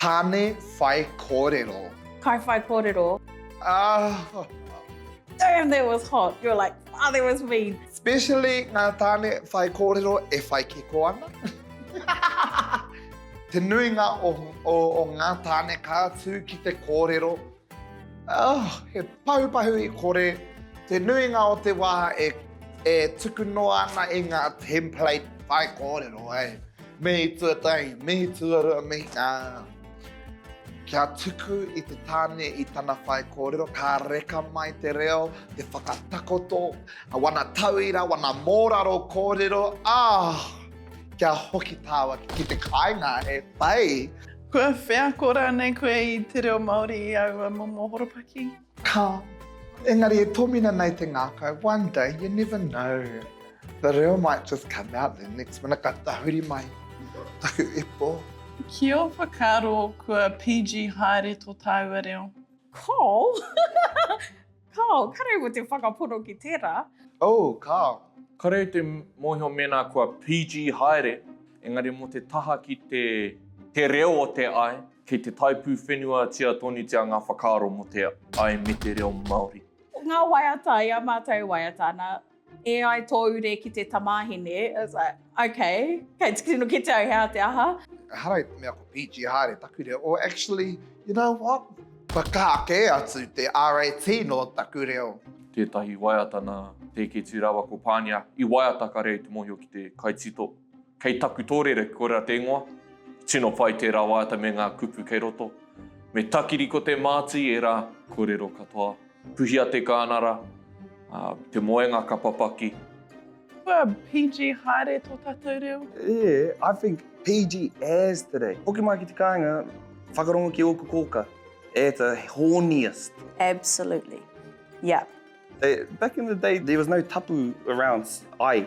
Tāne whai kōrero. Kai whai kōrero. Ah. Damn, that was hot. You're like, ah, that was mean. Especially ngā tāne whai kōrero e whai kiko ana. Te nuinga o, o, o ngā tāne ka tū ki te kōrero. Oh, he pahupahu i kore, te nuinga o te wā e e tuku noa ana i ngā template whai kōrero, eh? Mihi tuatahi, mihi tuarua, mihi ā. Kia tuku i te tāne i tana whai kōrero, ka reka mai te reo, te whakatakoto, wana tauira, wana mōraro kōrero, oh! Kia hoki tāwaki ki te kāinga, he pai! Kua wheako rānei koe i te reo Māori i aua momo horopaki? Ka. Engari e tōmina nei te ngākau, one day, you never know, the reo might just come out the next minute, ka tahuri mai taku ipo. Ki ō whakaaro kua PG haere tō tāua reo? Col. Kāo, kare ua te whakapono ki tērā. Oh, kāo. Kare te mōhio mēnā kua PG haere, engari mō te taha ki te, te reo o te ai, kei te taipūwhenuatia tōnutia ngā whakaaro mō te ai me te reo Māori. Ngā waiata, i a mātou e waiata ana. E ai tō ure ki te tamāhine. I was like, okay, kei te tino kite au he aha te aha. Ehara i te mea ko PG haere taku reo, or actually, you know what? Kua kaha kē atu te RAT nō taku reo. Tētahi waiata nā Te Keetu rāua ko Pānia i waiata ka reo i te mōhio ki te kaitito. Kei taku tōrere koirā te ingoa, tino pai tērā waiata me ngā kupu kei roto. Me takiri ko te māti ērā kōrero katoa. Puhia te kānara, te moenga ka papaki. Kua PG haere tō tātou reo. Yeah, I think PG as today. Hoki mai ki te kāinga, whakarongo ki ōku kōka at a horniest. Absolutely, yeah. Back in the day, there was no tapu around, ai.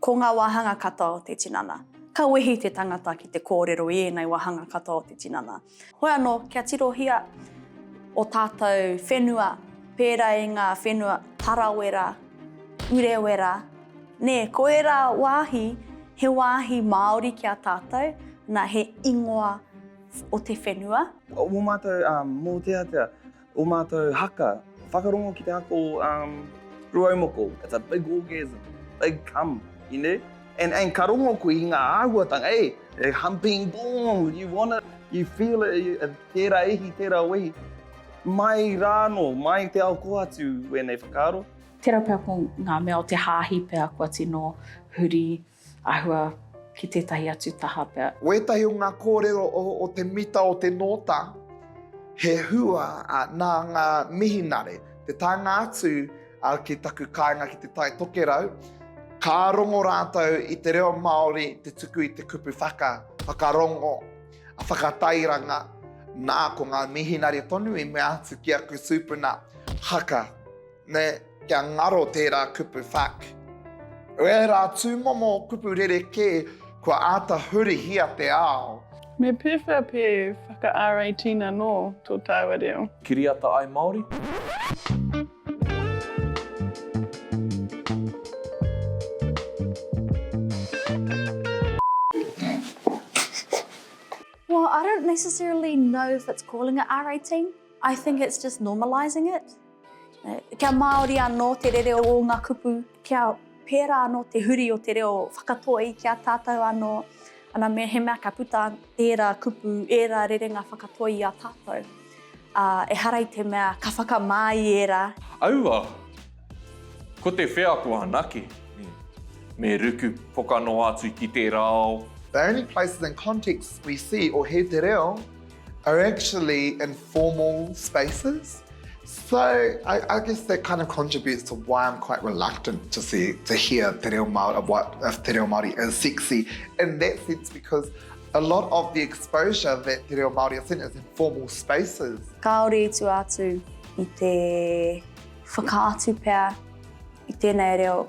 Ko ngā wāhanga katoa o te tinana. Ka wehi te tangata ki te kōrero i ēnei wāhanga katoa o te tinana. Hoi anō, kia tirohia o tātou whenua, pērā i ngā whenua Tarawera, Urewera, nē, ko ērā wāhi, he wāhi Māori ki a tātou, nā, he ingoa o te whenua. Mō mātou mōteatea. O mātou haka, whakarongo ki te ako ruaumoko, it's a big orgasm, big cum, you know, and and ka rongo koe i ngā āhuatanga, eh, eh, humping boom, you want it, you feel it, you, eh, tērā ihi, tērā wehi, mai rā anō, mai te ao kō atu wēnei whakaaro. Tērā pea ko ngā mea o te hāhi pea kua tino huri. Āhua ki tētahi atu taha pea. Wētahi o ngā kōrero o te mita o te nōta, he hua nā ngā mihinare. Te taenga atu ki taku kāinga ki Te Tai Tokerau, ka rongo rātou i te reo Māori te tuku i te kupu whaka, whakarongo, whakatairanga, nā ko ngā mihinare tonu i mea atu ki aku tūpuna haka. Nē, kia ngaro tērā kupu fuck. Ko ērā tūmomo kupu rerekē kua āta hurihia te ao. Me pēwhea pē whaka-RATina anō tō tāua reo? Kiriata ai Māori? Well, I don't necessarily know if it's calling it RAT, I think it's just normalising it. Kia Māori anō te rere o ngā kupu, kia pērā anō te huri o te reo whakatoi ki a tātou anō, ana me he mea ka puta ērā kupu, ērā rerenga whakatoi i a tātou, ā, ehara i te mea ka whakamā i ērā. Aua! Ko te wheako anake me ruku pokanoa atu ki tērā ao. The only places and contexts we see or hear te reo are actually informal spaces. So I, I guess that kind of contributes to why I'm quite reluctant to see to hear te reo Māori, what if te reo Māori is sexy in that sense because a lot of the exposure that te reo Māori is in is informal spaces. Kāore i tua atu i te whakaatu pea i tēnei reo